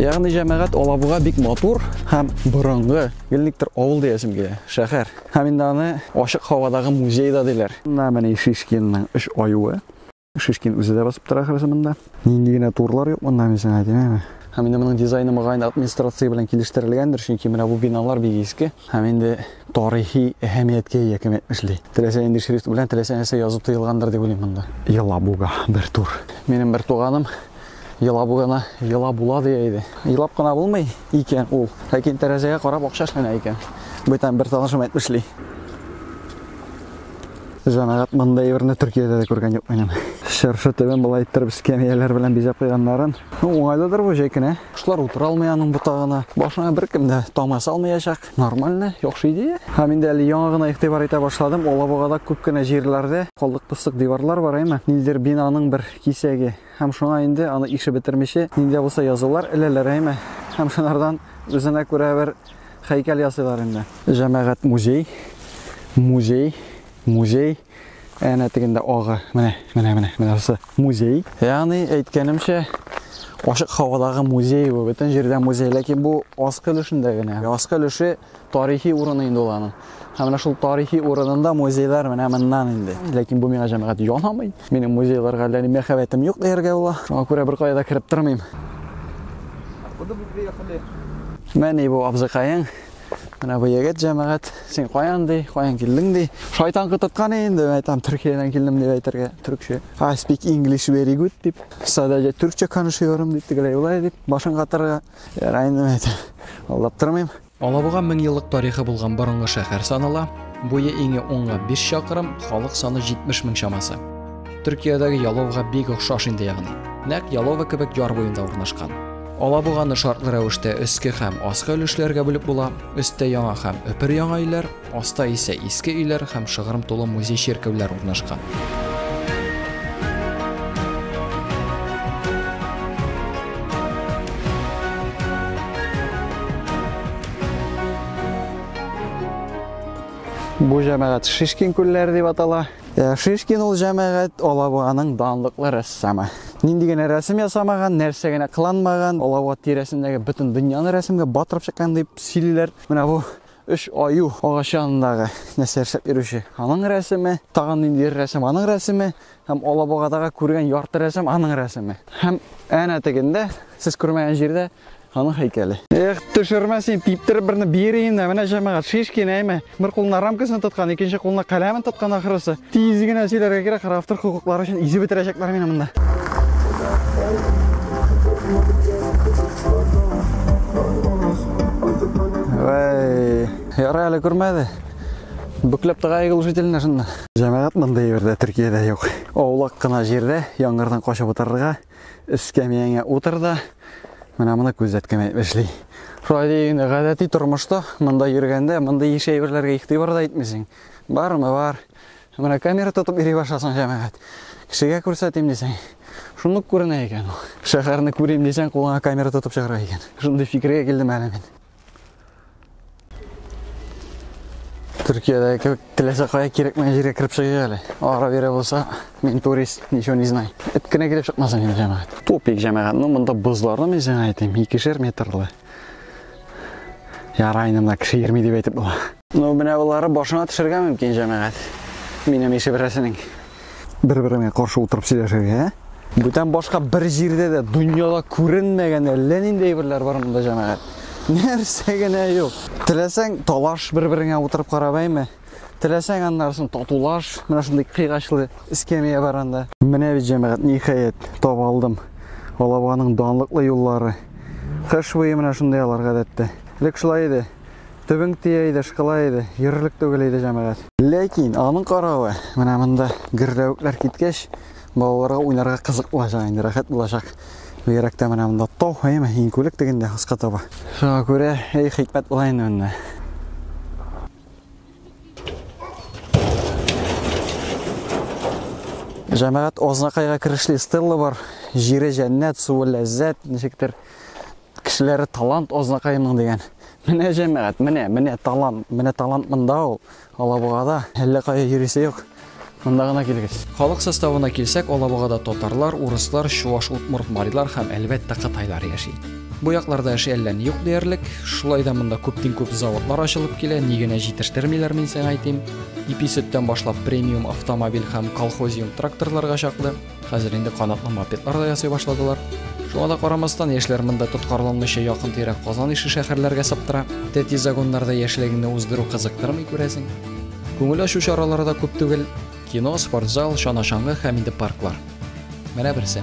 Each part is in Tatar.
Ягъни җәмәгать Алабуга бик матур һәм борынгы, гелниктер авыл диясем килә, шәһәр. Һәм инде аны ачык һавадагы музей да диләр. Менә менә Шишкинның үш аюы. Шишкин үзе дә басып тора ахрысы монда. Нинди генә турлар юк монда, мин сиңа әйтим, әйме? Һәм инде моның дизайны мөгаен администрация белән килештерелгәндер, чөнки менә бу биналар бик иске. Һәм инде тарихи әһәмияткә ия кем әйтмешли. Теләсә нинди шрифт белән теләсә нәрсә язу тыелгандыр дип уйлыйм монда. Елабуга бер тур. Минем бер туганым Елабугана ела була дия иде. Елап кына булмый икән ул. Ләкин тәрәзәгә карап акча эшләнә икән. Бүтән бер танышым әйтмешли. Җәмәгать монда әйберне Төркиядә дә күргән юк минем. Чыршы төбен болай иттереп скамияләр белән бизәп куйганнарын. Ну, уңайлыдыр бу җәй көне. Кошлар утыра алмый аның ботагына. Башына беркем дә тамга салмаячак. Нормально, яхшы идея. Һәм инде әле яңа гына игътибар итә башладым, Алабугада күп кенә җирләрдә калдык-постык диварлар бар, әйме? Ниндидер бинаның бер кисәге. Һәм шуңа инде аны ише бетермичә, нинди дә булса язулар эләләр, әйме? Һәм шунардан үзенә күрә бер хәйкәл ясыйлар инде. Җәмәгать музей, музей, музей. Әнә тегендә агы, менә, менә, менә, менә бусы музей. Ягъни әйткәнемчә, ашык һавадагы музей бу, бөтен җирдә музей, ләкин бу аскы өлешендә генә. Аскы өлеше тарихи урыны инде ул аның. Һәм менә шул тарихи урынында музейлар менә моннан инде. Ләкин бу миңа җәмәгать янамый. Минем музейларга әллә ни мәхәббәтем юк дияргә була. Шуңа күрә беркая да кереп тормыйм. Менә бу абзыкаең Менә бу егет җәмәгать, син каян ди, каян килдең ди. Шайтан кытыткан инде, әйтәм, Төркиядән килдем дип әйтергә, төркчә. I speak English very good дип. Садәҗә төркчә конышыyorum дип, тегеләй улай дип, башын катырга. Ярай инде әйтәм. Алдап тормыйм. Алабуга 1000 еллык тарихы булган борынгы шәһәр санала. Буе иңе онга 5 чакрым, халык саны 70 мең чамасы. Төркиядәге Яловга бик охшаш инде ягъни. Нәкъ Ялова кебек яр буенда урнашкан. Алабуганы шартлы рәвештә өске һәм аскы өлешләргә бүлеп була, өстә яңа һәм өпер яңа өйләр, аста исә иске өйләр һәм шыгрым тулы музей-чиркәүләр урнашкан. Бу җәмәгать Шишкин күлләре дип атала. Э, Шишкин ул җәмәгать Алабуганың данлыклы рәссамы. Нинди генә рәсем ясамаган, нәрсә генә кыланмаган, Алабуга тирәсендәге бөтен дөньяны рәсемгә батырып чыккан дип сөйлиләр. Менә бу үч аю агач янындагы нәрсә ясап йөрүче аның рәсеме тагын ниндидер рәсем аның рәсеме һәм алабугадагы күргән ярты рәсем аның рәсеме һәм әнә тегендә сез күрмәгән җирдә Аның һәйкәле. Эх, төшермә син, типтереп берне бир инде. Менә җәмәгать, Шишкин әйме. Бер кулына рамкасын тоткан, икенче кулына каләмен тоткан ахрысы. Тиз генә сөйләргә кирәк, автор хокуклары өчен изе бетерәчәкләр мине монда. Вай, ярый әле күрмәде. Бүкләп тыга егылушительне шунда. Җәмәгать монда җирдә Төркиядә юк. Аулак кына җирдә яңгырдан качып утырырга Эскәмияңә утыр да, менә моны күзәткән әйтеп эшли. Шулай дигәндә, гадәти тормышта монда йөргәндә, монда еш әйберләргә игътибар да итмисең. Бармы бар. Менә камера тотып йөри башласаң, җәмәгать. Кешегә күрсәтим дисәң, шундук күренә икән ул. Шәһәрне күрим дисәң, кулыңа камера тотып чыгарга икән. Шундый фикергә килдем әле мин. Төркиядә кебек теләсә кая кирәкмәгән җиргә кереп чыгыйк әле. Ара бирә булса, мин турист, ничего не знаю. Эт кенә килеп чыкмасын инде җәмәгать. Тупик җәмәгать, ну монда бозларны мин сиңа әйтим, икешәр метрлы. Ярай инде монда кеше йөрми дип әйтеп була. Ну, менә болары башына төшергә мөмкин, җәмәгать. Минем ише берәрсенең. Бер-береңә каршы утырып сөйләшергә, ә? Бүтән башка бер җирдә дә дөньяда күренмәгән әллә нинди әйберләр бар монда җәмәгать. Нәрсә генә юк. Теләсәң, талаш бер-береңә утырып карап әйме. Теләсәң, аннарысын татулаш. Менә шундый кыйгачлы эскәмия бар анда. Менә бит җәмәгать, ниһаять, таба алдым. Алабуганың данлыклы юллары. Кыш буе менә шундый алар гадәттә. Элек шулай иде. Төбең тия иде, шкала иде, йөрерлек түгел иде җәмәгать. Ләкин аның каравы, менә монда гөрләвекләр киткәч, балаларга уйнарга кызык булачак инде, рәхәт булачак. Бигрәк тә менә монда тау, әйме, иң күлек тегендә аска таба. Шуңа күрә, әй хикмәт була инде монда. Җәмәгать Ознакайга керешли Стелла бар. Җире җәннәт, суы ләззәт, ничектер. Кешеләре талант азнакаемның дигән. Менә җәмәгать, менә, менә талант, менә талант монда ул. Алабугада әллә кая йөрисе юк. Монда гына килгеч. Халык составына килсәк, Алабугада татарлар, урыслар, чуаш, удмурт, марилар һәм әлбәттә кытайлар яши. Бу якларда эше әллә ни юк диярлек. Шулай да монда күптин күп заводлар ачылып килә, ни генә җитештермиләр мин сиңа әйтим. Ипи сөттән башлап премиум автомобиль һәм колхозиум тракторларга чаклы. Хәзер инде канатлы мопедлар да ясый башладылар. Шуңа да карамастан, яшьләр монда тоткарланмыйча якын тирә Казан ише шәһәрләргә саптыра. Тәти загоннарда яшьлегеңне уздыру кызыктырмый күрәсең. Күңел ачу чаралары да күп түгел. Кино, спортзал, чана-чаңгы һәм инде парклар. Менә берсе.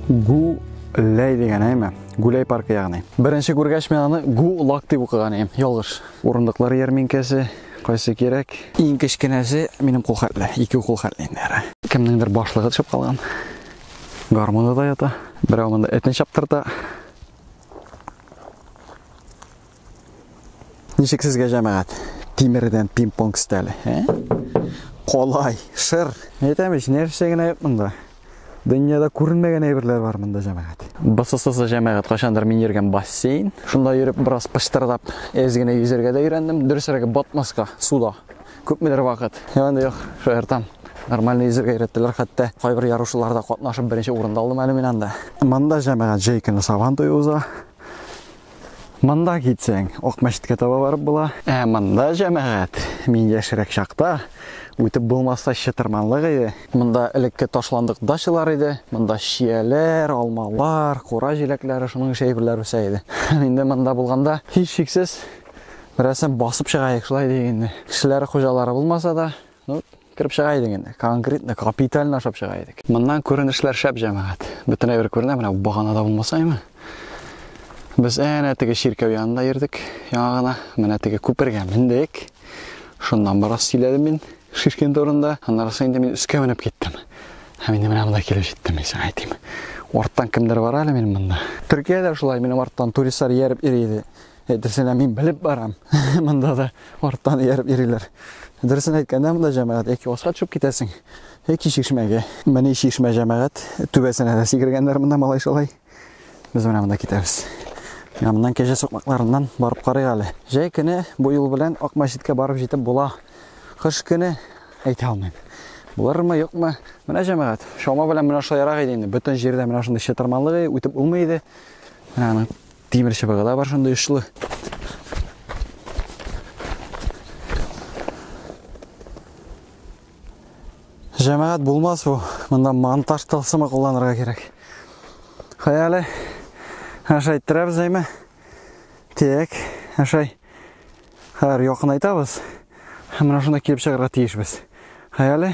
Гу Ләй дигән әйме? Гүләй паркы ягыни. Беренче күргәч мен аны Гу Лак дип укыган идем. Ялгыш. Урындыклар ярминкәсе, Кайсы кирәк? Иң кечкенәсе минем кул хәтле, ике кул хәтле инде әра. Кемнеңдер башлыгы төшеп калган. Гармоны да ята. Берәү монда этне чаптырта. Ничек сезгә җәмәгать? Тимердән пинг-понг стәле, ә? Колай, шыр. Әйтәм ич, нәрсә генә юк монда. Дөньяда күренмәгән әйберләр бар монда җәмәгать. Бысысыз җәмәгать кайчандыр мин йөргән бассейн. Шунда йөреп бераз пыштырдап, әз генә йөзәргә дә өйрәндем. Дөресрәге батмаска суда. Күпмедер вакыт. Янда юк, шаяртам. Нормально йөзәргә өйрәттеләр, хәтта кайбер ярышларда катнашып беренче урын да алдым әле мин анда. Монда җәмәгать җәй көне сабан туе уза. Монда китсәң, Акмәчеткә таба барып була. Ә монда җәмәгать, мин яшерәк чакта үтеп булмаса чытырманлык иде. Монда элекке ташландык дачалар иде. Монда чияләр, алмалар, кура җиләкләре, шуның ише әйберләр үсә иде. Инде монда булганда һичшиксез берәрсен басып чыгаек шулай дигәндә. Кешеләр хуҗалары булмаса да, Ну, кереп чыга идең инде. Конкретно, капитально ашап чыга идек. Моннан күренешләр шәп җәмәгать. Бөтенләй бер күренә, менә баганада булмасаймы? Без әнә теге чиркәү янында йөрдек, яңа гына. Менә теге күпергә мендек. Шуннан барас сөйләдем мин шишкен турында. Аннарысы инде мин өскә менеп киттем. Һәм инде менә монда килеп җиттем, мин сиңа әйтим. Арттан кемдер бар әле минем монда. Төркиядә шулай минем арттан туристлар ияреп йөри иде. Әйтерсең мин белеп барам. Монда да арттан ияреп йөриләр. Дөресен әйткәндә, монда җәмәгать яки аска төшеп китәсең, яки чишмәгә. Менә чишмә җәмәгать түбәсенә дә сикергәннәр монда малай шулай. Без менә монда китәбез. Менә моннан кәҗә сукмакларыннан барып карыйк әле. Җәй көне бу юл белән Ак мәчеткә барып җитеп була. Кыш көне әйтә алмыйм. Булырмы, юкмы? Менә җәмәгать. Шома белән менә шулай ярак иде инде. Бөтен җирдә менә шундый чытырманлык үтеп булмый иде. Менә Тимер чыбыгы да бар шундый очлы. Җәмәгать булмас бу. Монда монтаж тылсымы кулланырга кирәк. Хәяле ашай торабыз әйме. Тек, ашай. Хәр якынайтабыз. Һәм менә шунда килеп чыгарга тиешбез. Хәяле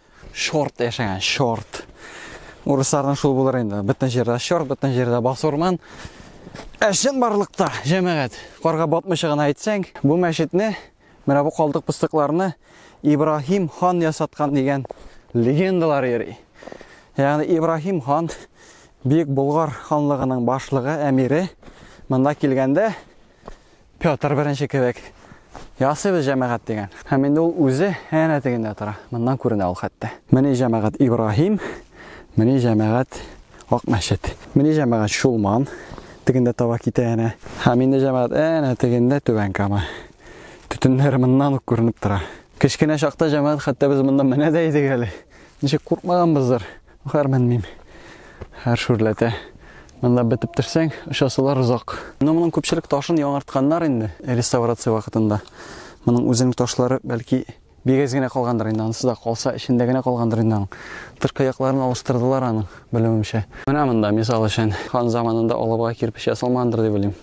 Чорт яшәгән, чорт. Урысларның шул булыр инде. Бөтен җирдә чорт, бөтен җирдә басурман. Ә чын барлыкта, җәмәгать, карга батмыйча гына әйтсәң, бу мәчетне, менә бу калдык пыстыкларны Ибраһим хан ясаткан дигән легендалар йөри. Ягъни Ибраһим хан Бөек Болгар ханлыгының башлыгы, әмире монда килгәндә Петр беренче кебек ясыйбыз җәмәгать дигән. Һәм инде ул үзе әнә тегендә тора. Моннан күренә ул хәтта. Менә җәмәгать Ибраһим, менә җәмәгать Ак мәчет. Менә җәмәгать Шулман тегендә таба китә әнә. Һәм инде җәмәгать әнә тегендә Түбән Кама. Төтеннәр моннан ук күренеп тора. Кечкенә чакта җәмәгать хәтта без монда менә дә идек әле. Ничек куркмаганбыздыр. Гармен мим. Һәр шүрләтә. Монда бетеп төшсәң, очасылар озак. Но моның күпчелек ташын яңартканнар инде реставрация вакытында. Моның үзенең ташлары бәлки бигез генә калгандыр инде, анысы да калса эчендә генә калгандыр инде аның. Тышкы якларын алыштырдылар аның, белүемчә. Менә монда мисал өчен хан заманында алабуга кирпич ясалмагандыр дип уйлыйм.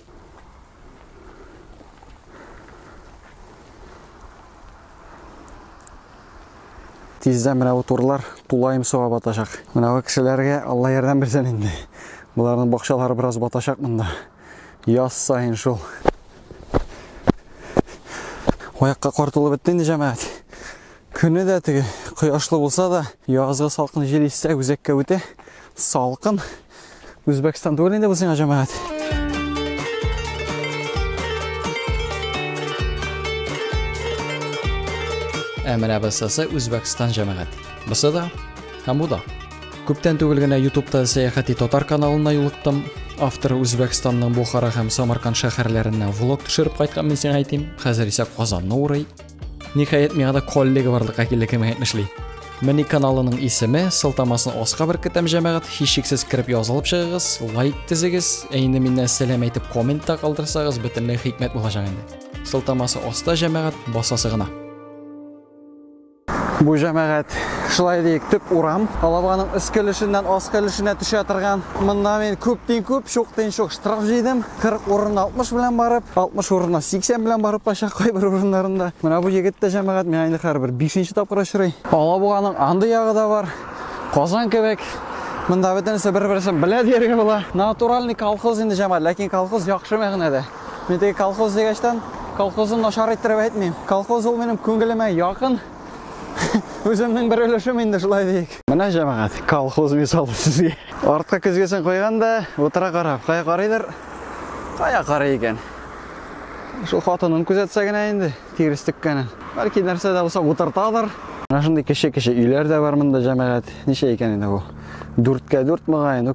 Тиздән менә бу турлар тулаем суга батачак. Менә бу кешеләргә Алла ярдәм бирсен инде. Боларның бакчалары бераз батачак монда. Яз саен шул. Аякка кар тулып бетте инде җәмәгать. Көне дә теге кояшлы булса да, язгы салкын җил иссә, үзәккә үтә салкын. Үзбәкстан түгел инде бу сиңа җәмәгать. Ә менә бысысы Үзбәкстан җәмәгать. Бысы да һәм бу да. Күптән түгел генә YouTube-та сәяхәти татар каналына юлыктым. Автор Үзбәкстанның Бухара һәм Самарканд шәһәрләренә влог төшереп кайткан мин сиңа әйтим. Хәзер исә Казанны урый. Ниһаять миңа да коллега барлыкка килде кем әйтмешли. Мени каналының исеме, сылтамасын аска беркетәм җәмәгать, һичшиксез кереп язылып чыгыгыз, лайк тезегез, ә инде миннән сәлам әйтеп коммент та калдырсагыз, бөтенләй хикмәт булачак инде. Сылтамасы аста җәмәгать, басасы гына. Бу җәмәгать шулай диек төп урам. Алабаның өскелешеннән аскелешенә төшә торган. Монда мин күптен күп, шуктен шук штраф җыйдым. 40 урынына 60 белән барып, 60 урынына 80 белән барып кача кайбер урыннарында. Менә бу егет тә җәмәгать, миңа инде хәзер бер 5 тапкыр очрый. Алабуганың андый ягы да бар. Казан кебек. Монда бөтенесе бер-берсен белә дияргә була. Натуральный колхоз инде җәмәгать, ләкин колхоз яхшы мәгънәдә. Мин теге колхоз дигәчтән, колхозны начар иттереп әйтмим. Колхоз ул минем күңелемә якын. Үземнең бер өлешем инде шулай диек. Менә җәмәгать, колхоз мисалы сезгә. Артка көзгесен куйган да, утыра карап, кая карыйдыр, кая карый икән. Шул хатынын күзәтсә генә инде, тирес теккәнен. Бәлки нәрсә дә булса утыртадыр. Менә шундый кеше-кеше өйләр дә бар монда җәмәгать. Ничә икән инде бу? Дүрткә дүрт мөгаен.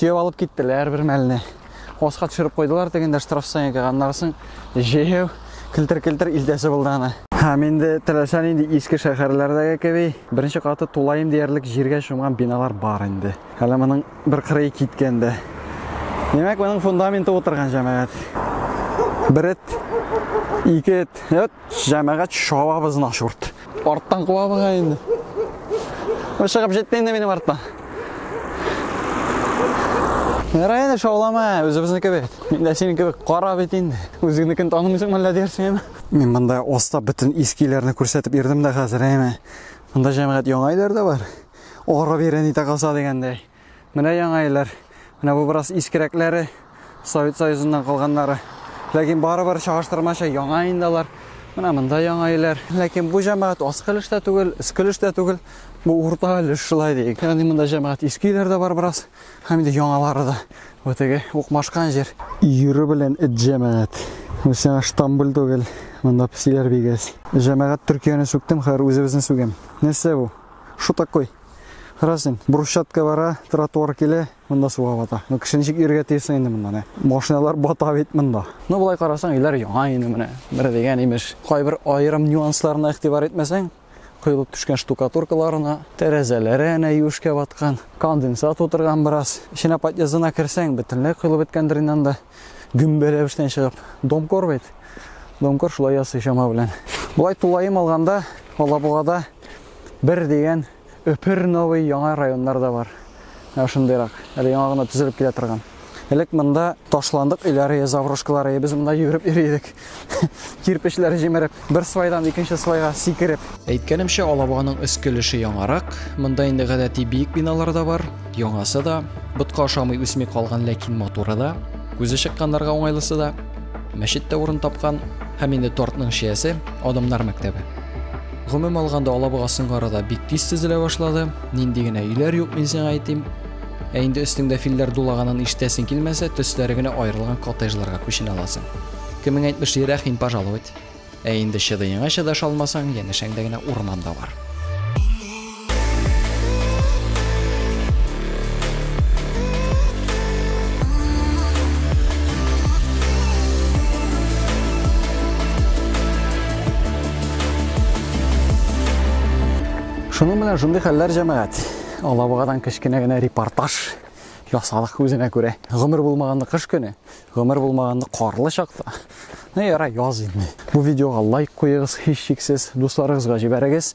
төяп алып киттеләр бер мәлне. Аска төшереп куйдылар тегендә штрафсанигага. Аннан соң җәяү келтер-келтер илтәсе булды аны. Һәм инде теләсә нинди иске шәһәрләрдәге кеби беренче каты тулаем диярлек җиргә чумган биналар бар инде. Әле моның бер кырые киткән дә. Димәк, моның фундаменты утырган җәмәгать. Бер эт, ике эт, эт, Җәмәгать шабабыз на шурт. Арттан куа буга инде. Бу чыгып җитте инде минем арттан. Ярай инде шаулама, үзебезнеке бит. Мин дә синең кебек кара бит инде. Үзеңнекен танымыйсың мәллә диясең. Мин монда оста бөтен искиләрне күрсәтеп йөрдем дә хәзер әйме. Монда җәмәгать яңа өйләр дә бар. Ара бирә ни тагаса дигәндәй. Менә яңа иләр. Менә бу бераз искерәкләре, Совет Союзыннан калганнары. Ләкин барыбер чагыштырмача яңа инде алар. Менә монда яңа иләр. Ләкин бу җәмәгать аскы өлеш тә түгел, өске өлеш тә түгел. Бу урта өлеш шулай диик. Ягъни монда җәмәгать иске иләр дә бар бераз, һәм инде яңалары да. Бу теге укмашкан җир. Йөрү белән эт җәмәгать. Бу сиңа Штамбул түгел. Монда песиләр бигәс. Җәмәгать Төркияне сүктем, хәзер үзебезне сүгәм. Нәрсә бу? Что такое? Карасын, брусчатка бара, тротуар килә, монда суга бата. Ну, кеше ничек йөрергә тиесен инде монда не. Машиналар бата бит монда. Ну, болай карасаң, өйләр яңа инде менә. Бер дигән имеш. Кайбер аерым нюансларына игътибар итмәсәң, коелып төшкән штукатуркаларына, тәрәзәләре әнә юшкә баткан, конденсат утырган бераз. Эченә подъездына керсәң, бөтенләй коелып беткәндер инде анда. Гөмбәләп эштән чыгып. Домкор бит. Домкор шулай ясый чама белән. Болай тулаем алганда, Алабугада Бер дигән Өпер новый яңа районнар да бар. Ә шундыйрак, әле яңа гына төзелеп килә торган. Элек монда ташландык өйләре, заврошкалары, без монда йөреп йөри идек. Кирпечләр җимереп, бер свайдан икенче свайга сикереп. Әйткәнемчә, Алабуганың өске өлеше яңарак. Монда инде гадәти биек биналар да бар, яңасы да, ботка ашамый үсми калган, ләкин матуры да, күзе чыкканнарга уңайлысы да. Мәчет тә урын тапкан, һәм инде тортның чиясе, Адамнар мәктәбе. Гомум алганда алабуга соңгы арада бик тиз төзелә башлады. Нинди генә өйләр юк, мин сиңа әйтим. Ә инде өстеңдә филләр дулаганын ишетәсең килмәсә, төсләре генә аерылган коттеджларга күченә аласың. Кемең әйтмешли, рәхим пожаловать. Ә инде чыдыеңа чыдаша алмасаң, янәшәңдә генә урман да бар. Шуның белән шундый хәлләр җәмәгать. Алабугадан кечкенә генә репортаж ясадык үзенә күрә. Гомер булмаганны кыш көне, гомер булмаганны карлы чакта. Ну яра яз инде. Бу видеога лайк куегыз, һичшиксез, дусларыгызга җибәрегез.